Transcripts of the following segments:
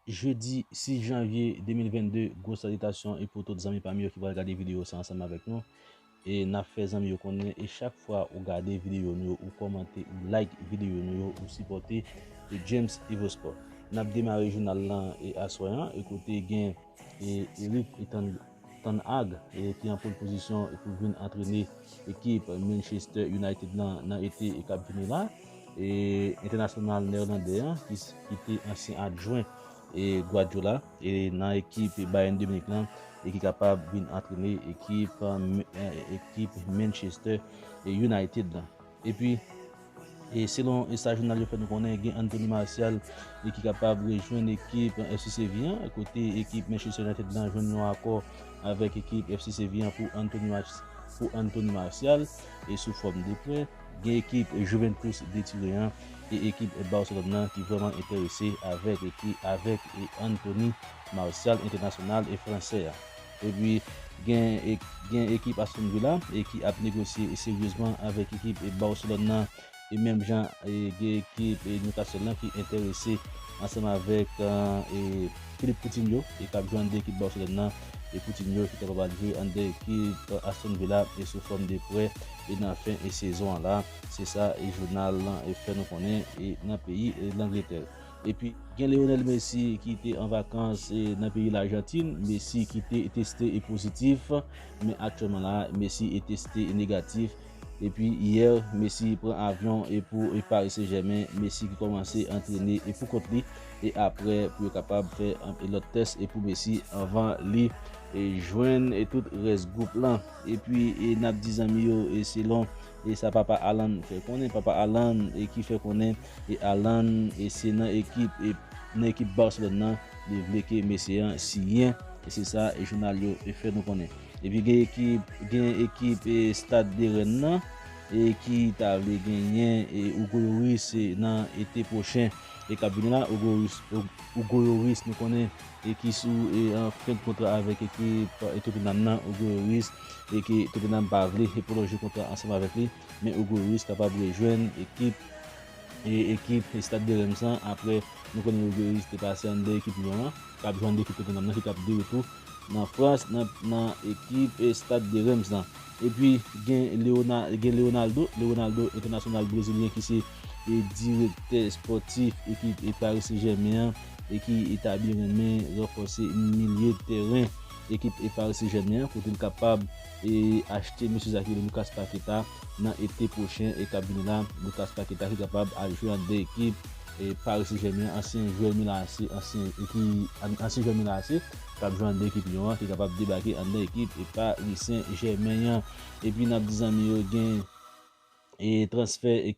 Jedi 6 janvye 2022 gwo salitasyon e pou tout zanmi pam yo ki pral gade video sa ansanm avèk nou. E nap fè zanmi yo konnen e chak fwa ou gade videyo nou yo ou kòmante ou like videyo nou yo ou sipòte e James Evosport. Nap demare jounal lan e aswè an e kote gen e Erik Etan Tann Ag e ki an pole pozisyon e pou vin antrene ekip Manchester United lan nan ete e kap vini la e entènasyonal nèelandè an ki te ansyen adjwen e Guardiola. nan ekip Bayern de Munich lan e ki kapab vin antrene ekip ekip Manchester United lan. Epi e selon sa jounal yo fè nou konnen gen Anthony Martial e ki kapab rejwenn ekip FC Sevilla kote ekip Manchester United lan jwenn yon akò avèk ekip FC Sevilla pou Anthony Martial e sou fòm de prè. Gen ekip Juventus de Turin e ekip Barcelone nan ki vrèman enterese avèk ki avèk Anthony Martial entènasyonal fransè a. Epi gen gen ekip Aston Villa e ki ap negosye seryezman avèk ekip Barcelone nan e menm jan gen ekip Newcastle lan ki enterese ansanm avèk e Philippe Coutinho e kap jwe anndan ekip Barcelone nan e Coutinho ki kapab al jwe anndan ekip Aston Villa e sou fòm de prè. e nan fen e sezon an la, se sa e jounal lan e fè nou konnen e nan peyi e Langletè. Epi gen Leonel Messi ki te an vakans e nan peyi Lajantin, Messi ki te teste e pozitif, men aktyèlman la Messi e teste e negatif. Epi yè Messi pran avyon e pou e Paris Saint Germain, Messi ki kòmanse antrene e pou kont li e aprè pou yo kapab fè e lòt tès e pou Messi anvan li e jwenn e tout rès gwoup lan. Epi n ap di zanmi yo selon sa papa Alan fè konnen, papa Alan ki fè konnen Alan se nan ekip Barcelone nan li vle ke mesye an siyen, se sa jounal yo fè nou konnen. Epi gen ekip Stade de Rennes nan ki ta vle genyen Hugo Lloris nan ete pwochen k ap vini la, Hugo Lloris nou konnen. e ki sou fen kontra avèk ekip Tottenham nan, Hugo Lloris, e ke Tottenham pa vle pwolonje kontra ansanm avèk li, men Hugo Lloris kapab rejwenn ekip ekip Stade de Reims lan aprè nou konnen Hugo Lloris te pase an de ekip Lyon an, kap jwe an de ekip Tottenham nan ki tap de retou nan Frans nan ekip Stade de Reims lan. Epi gen Leonaldo, Leonaldo entènasyonal brezilyen ki se direktè espòtif ekip Paris Saint Germain an. e ki etabli renmen ranfòse milye tèren ekip parisejèmen an kote li kapab achte mesye sa ki rele Lucas Paqueta nan ete pwochen e kap vini la, Lucas Paqueta ki kapab al jwe an 2 ekip parisejèmen an, ansyen jwè Milan AC ansyen jwè Milan AC kap jwe an 2 ekip Lyon an ki kapab debake an 2 ekip parisejèmen an epi nap di zanmi yo gen transfè.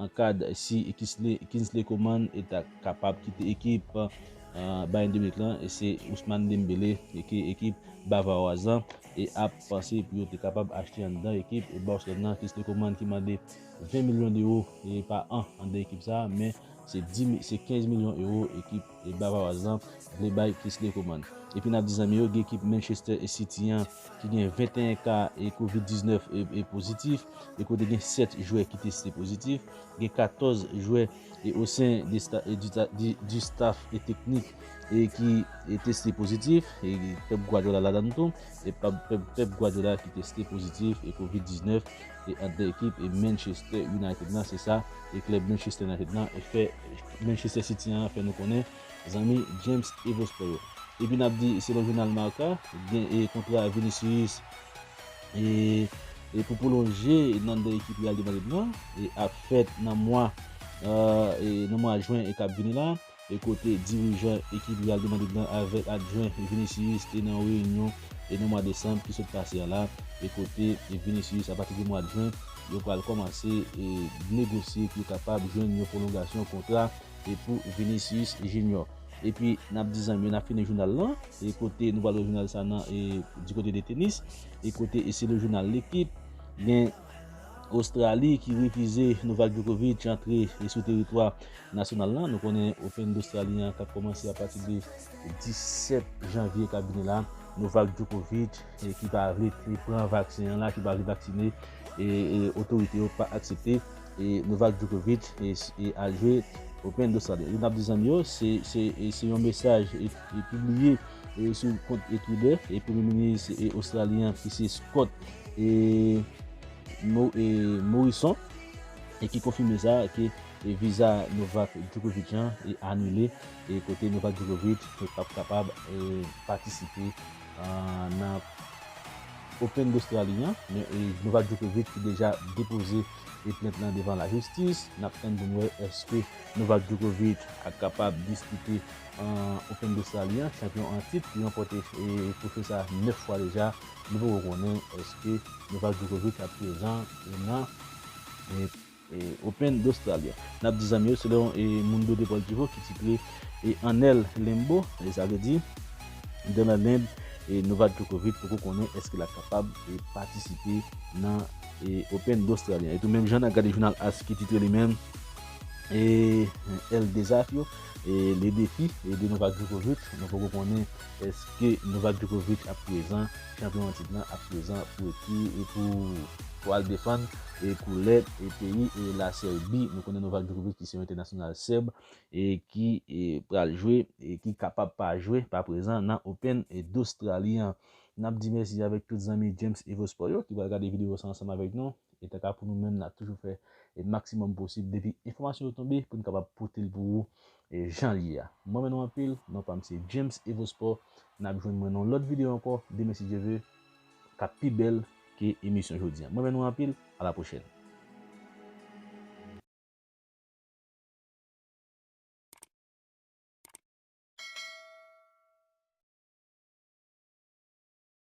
An kad si Kingsley Coman ta kapab kite ekip Bayern de Munich lan, se Ousmane Dembélé ke ekip Bavaroise lan ap panse pou yo te kapab achte anndan ekip Barcelone lan. Kingsley Coman ki mande 20 milyon ewo pa an anndan ekip sa, men se 15 milyon ewo ekip Legba pa wazanp vle bay plis de komann. Epi nap di zanmi yo gen ekip Manchester e City an ki gen 21 ka e covid 19 e pozitif e kote gen 7 jwè ki teste pozitif, gen 14 jwè e osen de sta e di ta di di staf e teknik e ki e teste pozitif e Pep Guardiola ladann tou e pab Pep Pep Guardiola ki teste pozitif e covid 19. e ant 2 ekip e Manchester United lan se sa e klèb Manchester United lan fè Manchester City an fè nou konnen zanmi James Evo Sport yo. Epi nap di selon jounal Marca gen e kontra Vinicius e e pou pwolonje nan 2 ekip Real de Madrid lan e ap fèt nan mwa e nan mwa jwen e kap vini la. E kote dirijan ekip Real de Madrid lan avèk adjwen Vinicius te nan yon reyinyon e nan mwa desanm ki sot pase a la e kote Vinicius apati de mwa jen yo pral kòmanse e negosye pou yo kapab jwenn yon pwolongasyon kontra e pou Vinicius Junior. Epi nap di zanmi yo nap fini jounal lan e kote nou pral wè jounal sa nan e di kote de tenis e kote e selon jounal L'Equipe gen Ostrali ki refize Novak Djokovic antre e sou teritwa Nasyonal lan, nou konnen Open d'Australie an k ap kòmanse apati de 17 janvye k ap vini la, Novak Djokovic ki pa vle pran vaksen an la, ki pa vle vaksine, otorite yo pa aksepte Novak Djokovic al jwe Open d'Australie. Li nan dizanmi yo, se yon mesaj ki pibliye sou kont Twitter Premye Minis Ostralyen an ki se Scott Morrison ki konfime sa. e viza Novak Djokovic lan e anile e kote Novak Djokovic te pap kapab patisipe nan Open d'Australie an men e Novak Djokovic ki deja depoze e plent lan devan la jistis nap tann poun wè eske Novak Djokovic ap kapab dispite Open d'Australie an chanpyon an tit ki ranpòte e twofe sa 9 fwa deja nou poko konnen eske Novak Djokovic ap prezan nan Open d'Australia. N ap di zanmi yo se lè yon Mundo Deportivo ki titre En el Limbo, sa vle di Dan nan Lenb, Novak Djokovic poko konnen èske l ap kapab patisipe nan Open d'Australia. Etou menm jan n ap gade jounal As ki titre li menm El Desafio, Le Defi, de Novak Djokovic, nou poko konnen Eske Novak Djokovic ap prezan, chanpyon an tit lan ap prezan pou ekri e pou pou al defann e koulè e peyi e la Sèbi. Nou konnen Novak Djokovic ki se yon entènasyonal Sèb e ki e pral jwe e ki kapab pa jwe, pa prezan nan Open e Dostrali an. N ap di mèsi avèk tout zanmi James Evo Sport yo ki pral gade videyo sa ansanm avèk nou. E tanka pou nou menm n ap toujou fè e maksimòm posib depi enfòmasyon yo tonbe pou n kapab pote l pou ou E janl ye a. M renmen nou anpil, non pam se James Evo Sport, nap jwenn mwen nan yon lòt video ankò demen si Dye ve, kap pi bèl ke emisyon jodi an. M renmen nou anpil, a la pwochèn.